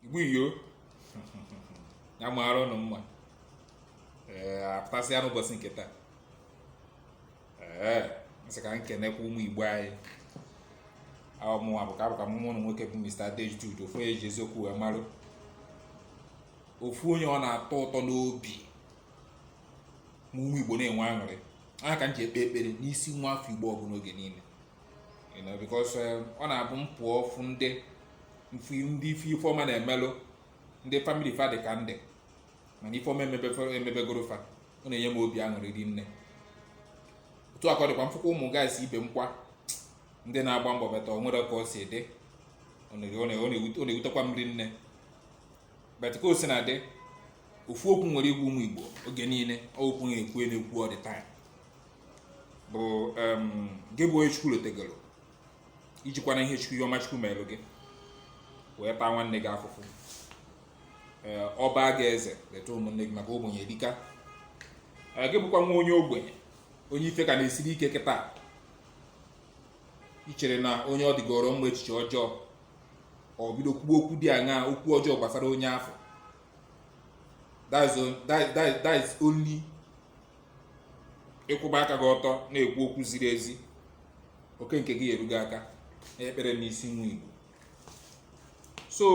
igbo iyo ya maara ụnụ mma ee apụtasịa n'ụbọchị nke taa ee m sị ka m kenekwa ụmụ igbo anyị ahụ mụnwa bụ ka abụkwa m nwanne ụnụ nwoke bụ Mr. Adejude ofu onye e ji eziokwu wee marụ ofu onye ọ na-atọ ụtọ n'obi ma ụmụ igbo na-enwe aṅụrị ọ nya ka m ji ekpe ekpere n'isi nwa afọ igbo ọbụla oge niile because eh, ọ na-abụ m pụọ fụ ndị ndị ife ife ọma na-emelụ ndị family fa dị ka ndị ma na ife ọma emebegoro fa ọ na-enye m obi aṅụrị ri nne otu a ka ọ dịkwa m fụkwa ụmụ guys ibe m kwa ndị na-agba mbọ but o nwere ka ọ si dị ọ na-ewutekwa m ri nne but ka o si na dị ofu okwu m nwere ịgwa ụmụ igbo oge niile ọ okwu m na-ekwu na-ekwu all the time bụ gị bụ onye chukwu lotegoro ijikwana ihe chukwu ihe ọma chukwu merụ gị wee taa nwanne gị afụfụ ee ọba gị eze leta ụmụnne gị maka ogbenye dịka gị bụkwa nwa onye ogbenye onye ife ka na-esiri ike kịta icherena onye ọ dịgoro mma echiche ọjọọ or bido kwuo okwu dị aṅaa okwu ọjọọ gbasara onye afụ that is only ịkwụba aka gị ọtọ na-ekwu okwu ziri ezi oke nke gị eruo gị aka ekpere m n'isi nwa igbo so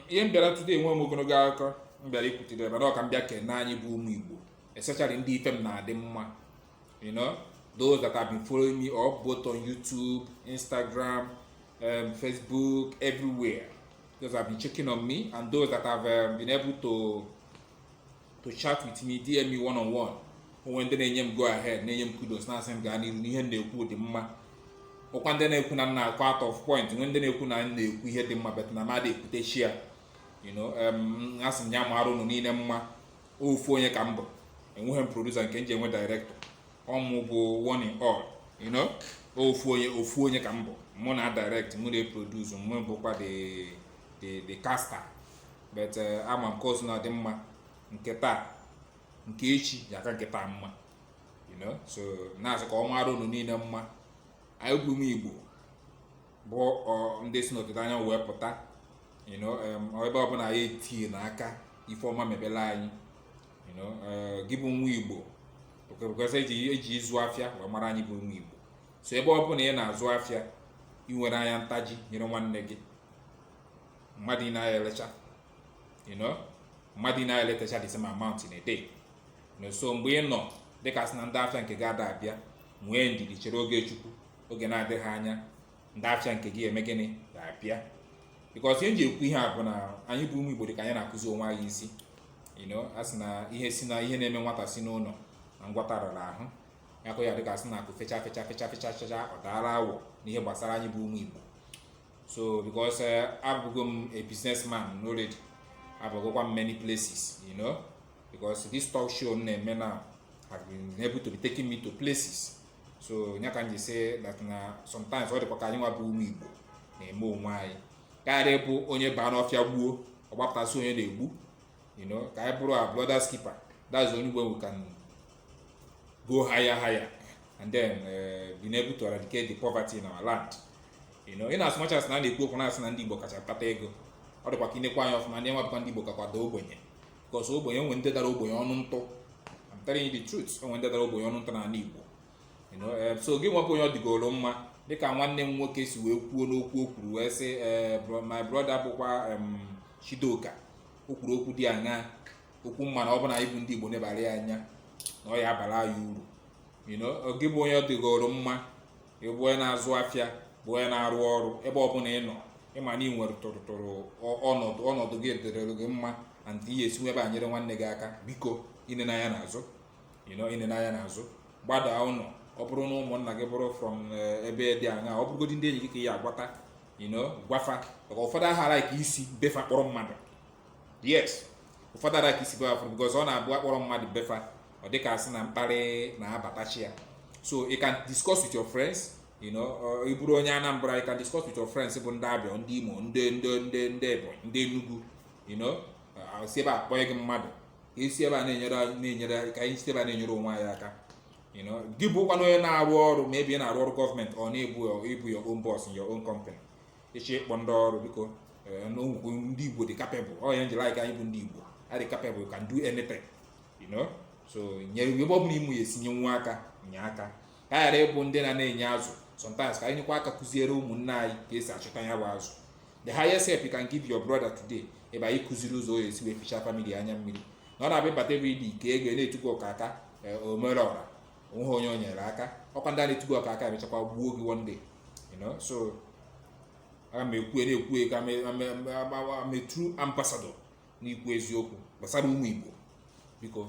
ihe m bịara today enwe m ogologo akụkọ m bịara ikwutere ebe ọ ka m bịa kene anyị bụ ụmụ igbo especially ndị ife m na-adị mma you know those that have been following me up both on youtube instagram um, facebook everywhere those have been checking on me and those that have um, been able to to chat with me DM me one on one o nwe ndị na-enye m go ahead na-enye m kudos na-asị m gaa n'iru na ihe m na-ekwu dị mma ọkwa ndị na-ekwu na m na-akọ out of point nwe ndị na-ekwu na m na-ekwu ihe dị mma but na mmadụ ekwutechi ya um, asị m ya mara ụnụ niile mma ofu onye ka m bụ enweghị m producer nke m ji enwe director ọ mụ bụ one in all you know ofu onye ofu onye ka m bụ mụ na-adirect mụ na-eproduce mụ bụkwa the the the caster but eh, ama m ka o si na-adị mma nke taa nke echi ya-aka nke taa mma you know so na-asị ka ọ mara unu niile mma anyị bụ ụmụ igbo bụ ndị si n'ọdịda anyanwụ wee pụta you know ebe ọbụla anyị etinyena aka ife ọma mebela anyị you know eh, gị bụ nwa igbo because e ji e ji ịzụ afịa wee mara anyị bụ ụmụ igbo so ebe ọbụla ị na-azụ afịa ị nwere anya ntaji nyere nwanne gị mmadụ ine aya elecha you know mmadụ ine aya elecha the same amount in a day so mgbe ị nọ dịka sị na ndị afịa nke gị ada abịa nwee ndidi chere oge chukwu oge na-adịghị anya ndị afịa nke gị eme gịnị ga-abịa because ihe m ji ekwu ihe a bụ na anyị bụ ụmụ igbo dị ka anyị na-akụzi onwe anyị isi you know a sị na ihe si na ihe na-eme nwata si n'ụlọ na ngwọta rara ahụ akụ ya dịka a sị na akụ fecha fecha fecha fecha fecha ọ daara awọ n'ihe gbasara anyị bụ ụmụ Igbo so because eh, abụgo m a businessman already abụgokwa m many places you know because this talk show m na-eme now have been able to be taking me to places so nya ka m ji sị that na sometimes ọ dịkwa ka anyị nwa bụ ụmụ igbo na-eme onwe anyị karịa bụ onye baa n'ọfịa gbuo ọ gbapụta sị onye na-egbu you know ka anyị bụrụ our brother's keeper that's the only way we can go higher higher and then uh, being able to eradicate the poverty in our land in as much as na a na-ekwu okwu na-asị na ndị Igbo kacha kpata ego ọ dịkwa ka i nekwa anya ọfụma ndị nwa bụkwa ndị Igbo kakwa daa ogbenye because ogbenye o nwe ndị dara ogbenye ọnụ ntụ I'm telling you the truth o nwe ndị dara ogbenye ọnụ ntụ n'ala Igbo eh, so gị nwa bụ onye ọ dịgoro mma dịka nwanne m nwoke si wee kwuo n'okwu o kwuru wee sị eh, my brother bụkwa Chidoka o kwuru okwu dị anya okwu mma na ọ bụ na anyị bụ ndị Igbo nebara ya anya na ọ ya abara anyị uru gị bụ onye ọ dịgoro mma ị bụ onye na-azụ afịa bụ onye na-arụ ọrụ ebe ọbụla ị nọ ị ma na ị nwere tụrụtụrụ ọnọdụ ọnọdụ gị dịrịrụ gị mma and ị ya esi ebe a nyere nwanne gị aka biko i nene anya n'azụ you know i nene anya n'azụ gbadaa ụlọ ọ bụrụ na ụmụnna gị bụrụ from eh, ebe dị anya ọ bụrụgodị ndị enyi gị ka ị ya agwata you know gwa fa maka ụfọdụ aha alike isi be fa kpọrọ mmadụ yes ụfọdụ aha alike isi be fa because ọ na-abụ a kpọrọ mmadụ be fa ọ dịka a sị na mkparị na-abatachi ya so you can discuss with your friends you know ị bụrụ onye Anambra you can discuss with your friends bụ ndị Abịa ndị Imo ndị ndị ndị ndị Ebonyi ndị Enugu you know si ebe a kpọnye gị mmadụ ka esi ebe a na-enyere na-enyere ka anyị si ebe a na-enyere onwe anyị aka you know gị bụkwanụ onye na-arụ ọrụ maybe ị na-arụ ọrụ government or maybe ị bụ your own boss in your own company ị chọọ ịkpọ ndị ọrụ biko eh, n'ogwugwu ndị igbo dị capable ọ ya m jiri like anyị bụ ndị igbo a dị capable can do anything you know so nye ebe ọ bụla ị ma ị ya esi nye nwa aka nye aka ka ghara ịbụ ndị na na-enye azụ sometimes ka anyị nyekwa aka kụziere ụmụnne anyị ka esi achọta ya bụ azụ the highest help you can give your brother today ọ bụ na ị kụziri ụzọ ọ ya esi wee ficha family anya mmiri na ọ na-abịa ịbata ebe ịdị ike ego na-etu gị ọkaka eh, omere ọra o nweghị onye o nyere aka ọkwa ndị a na-etu gị ọkaka emechakwa gbuo gị one day you know so aga m ekwu na-ekwu ka I'm a true ambassador n'ikwu eziokwu gbasara ụmụ Igbo biko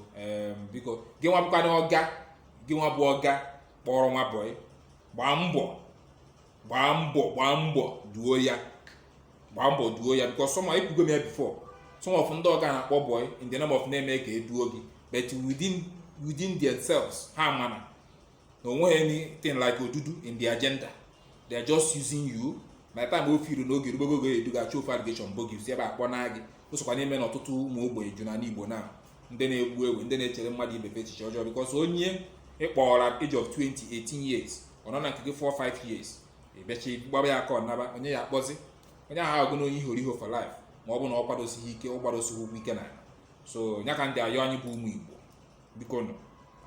biko gị nwa bụkwa na ọga gị nwa bụ ọga kpọrọ nwa boy gbaa mbọ gbaa mbọ gbaa mbọ duo ya gbaa mbọ duo ya because some ekwugo m ya before some of ndị ọga na-akpọ boy in the name of na emekaa e duo gị but within within themselves ha ma na onweghị anything like odudu in the agenda they are just using you by the time o feel na oge rugo oge edu gị achọọ ofu allegation bo gị si ebe ahụ kpọnaa gị o sokwa na-eme na ọtụtụ ụmụ ogbenye ju n'ala igbo na ndị na-egbu egbu ndị na-echere mmadụ ibe fa echiche ọjọọ because onye ị kpọọrọ age of 20 18 years ọ nọ na nke gị 4-5 years ị bịachaa gbaba ya aka ọ naba onye ya-akpọzi onye ahụ agụ na onye ihoriho for life ma ọ bụ na ọ kwadosighị ike ọ gbadosighị ụkwụ ike na so nya ka m ji ayọ anyị bụ ụmụ igbo bikonụ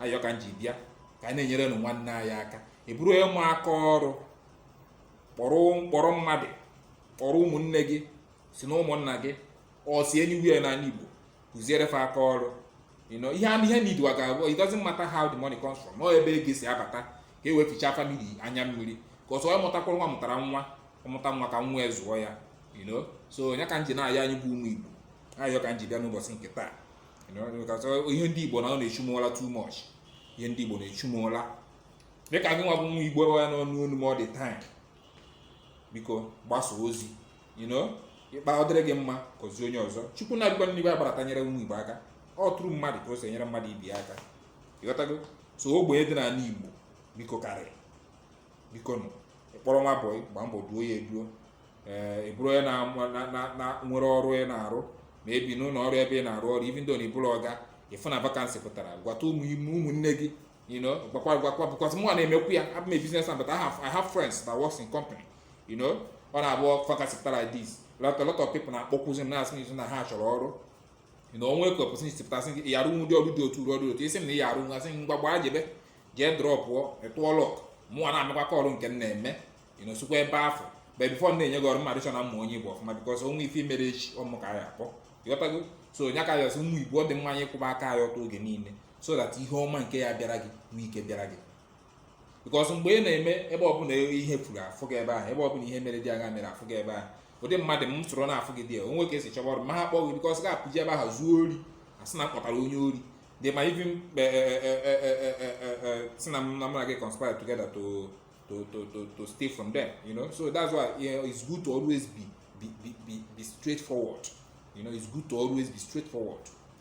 ayọ ka m ji bịa ka anyị na-enyerenụ nwanne anyị aka ị bụrụ onye ma aka ọrụ kpọrọ m kpọrọ mmadụ kpọrọ ụmụnne gị si na ụmụnna gị o si anywhere n'ala igbo kụziere fa aka ọrụ you know ihe ihe need wa ga-abụ it doesn't matter how the money comes from ọ ebe ego si abata ka e wee fichaa family anya mmiri ka ọsọ ọ mụtakwara nwa mụtara nwa ọ mụta nwa ka nwa zụọ ya you know so nya ka m ji na-ayọ anyị bụ ụmụ igbo ayọ ka m ji bịa n'ụbọchị nke taa ihe ndị igbo na ọ na-echu m ụla too much ihe ndị igbo na-echu m ụla dịka gị nwa bụ nwa igbo ya na-anụ olu m all the time biko gbasa ozi you know ị kpaa ọ dịrị gị mma kụzie onye ọzọ chukwu anadịkwa n'igwe agbarata nyere ụmụ igbo aka ọ through mmadụ ka o si enyere mmadụ ibe aka ịghọtago so ogbenye dị n'ala igbo biko karịrị bikonụ ị kpọrọ nwa bọyị gbaa mbọ duo ya eduo ee eh, ị bụrụ onye na nwere ọrụ ị na-arụ maybe n'ụlọ ọrụ ebe ị na-arụ ọrụ even though na ị bụrọ ọga ị fụ na vacancy pụtara gwata ụmụnne gị you know gwakwa gwakwa because mụ na-emekwu ya I'm a business man but I have, I have friends that works in company you know ọ na-abụ vacancy pụta like this lot, a lot of people na-akpọkwuzi m na-asị m izu na ha chọrọ ọrụ you know onwee ka opportunity pụta asị gị ị ya-arụnwu ụdị ọrụ dị otu a ọrụ dị otu a ị sị m na ị ya-arụnwu asị m ngwa gbaa jebe jee drọpụọ it's your luck mụnwa ana-emekwa call nke m na-eme you know sokwa ebe afụ but before na-enye gị ọrụ m ga-adị sure na m ma onye ị bụ ọfụma because onwe ife mere echi ọ mụ ka a ya-akpọ ịghọtago so nya ka m ya-asị ụmụ igbo ọ dị mma anyị kwụba aka anyị ọtọ oge niile so that ihe ọma nke ya-abịara gị nwee ike bịara gị because mgbe ị na-eme ebe ọbụla ihe furu afụ gị ebe ahụ ebe ọbụla ihe mere dị agha mere afụ gị ebe ahụ ụdị mmadụ m soro na-afụ gị dị ya onwee ka esi chọba ọrụ m maha akpọ gị because ị ga-apụ je ebe ahụ zuo ori asị na m kpọtara onye ori they might even sị na m na mụ na gị conspire together to to to to to steal from them you know so that's why you know, it's good to always be be be be, be straightforward you know it's good to always be straightforward